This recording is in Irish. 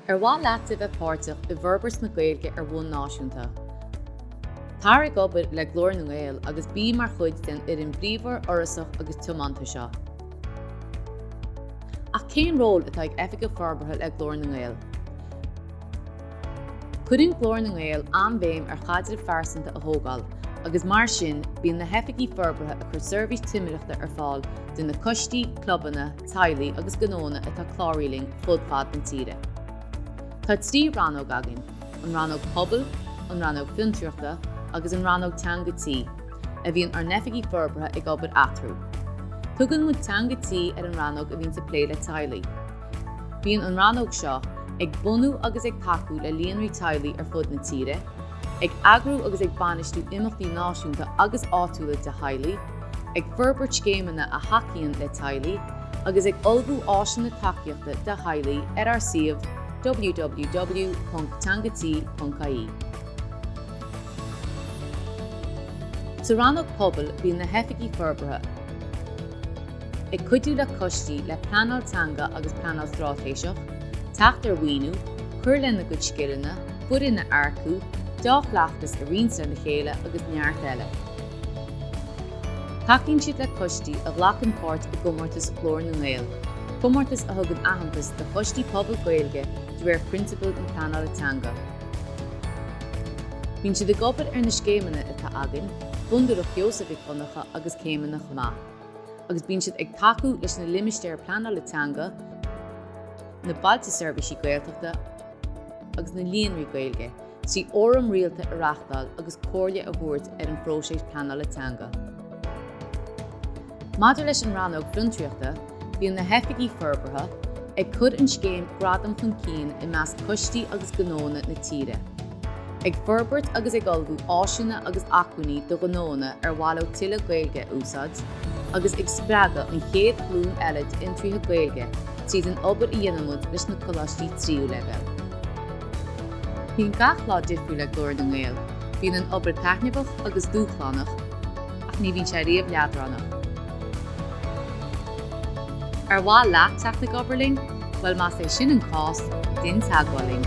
Ar mhaith leat a bheith páirteach i bhforbairt na Gaeilge ar bhonn náisiúnta? Tar ag obair le Glór na nGael agus bí mar chuid den fhoireann bhríomhar, fhorasach agus tiomanta seo. Ach cén ról atá ag Oifigeach Forbartha le Glór na nGael? Cuireann Glór na nGael an-bhéim ar chaidrimh phearsanta a thógáil agus mar sin bíonn na hOifigigh Forbartha ag cur seirbhís timireachta ar fáil do na coistí, clubanna, teaghlaigh agus gnóanna atá cláraithe linn fud fad na tíre. Tá trí rannóg againn, an Rannóg Pobail, an Rannóg Fiontraíochta agus an Rannóg Teanga Tí, a bhíonn ár nOifigigh Forbartha ag obair eatarthu. Tugann muid Teanga Tí ar an rannóg a bhíonns ag plé le teaghlaigh. Bíonn an rannóg seo ag bunú agus ag tacú le líonraí teaghlaigh ar fud na tíre, Ag eagrú agus ag bainistiú imeachtaí náisiúnta agus áitiúla do theaghlaigh, ag forbairt scéimeanna a thacaíonn le teaghlaigh, agus ag ullmhú áiseanna tacaíochta do theaghlaigh ar ár suíomh www.teangati.ie. Sa Rannóg Pobail bíonn na hOifigigh Forbartha ag cuidiú le coistí le pleanáil teanga agus pleanáil straitéiseach, teacht ar mhaoiniú, cur lena gcuid scileanna, foireann a earcú, dea-chleachtas a roinnt lena chéile agus neart eile. Tacaíonn siad le coistí a ghlacann páirt i gcomórtas Ghlór na nGael, comórtas a thugann aitheantas do choistí pobail Gaeilge de réir prionsabail na Pleanála Teanga. Bíonn siad ag obair ar na scéimeanna atá againn, Fondúireacht Sheosaimh Mhic Dhonncha agus Céimeanna chomh maith, agus bíonn siad ag tacú leis na Limistéir Pleanála Teanga, na Bailte Seirbhísí Gaeltachta, agus na Líonraí Gaeilge, trí fhóraim rialta a reáchtáil agus comhairle a thabhairt ar an phróiseas pleanála teanga. Maidir leis an rannóg fiontraíochta, bíonn na hOifigigh Forbartha ag cur an scéim Gradam chun cinn i measc coistí agus gnóanna na tíre, ag forbairt agus ag ullmhú áiseanna agus acmhainní do ghnóanna ar mhaith leo tuilleadh Gaeilge a úsáid, agus ag spreagadh an chéad ghlúin eile d'fhiontraithe Gaeilge tríd an obair a dhéanaimid leis na coláistí tríú leibhéal. Bíonn gach lá difriúil le Glór na nGael, bíonn an obair taitneamhach agus dúshlánach, ach ní bhíonn sé riamh leadránach. Ar mhaith leat teacht ag obair linn? Bhuel, más é sin an cás, dein teagmháil linn.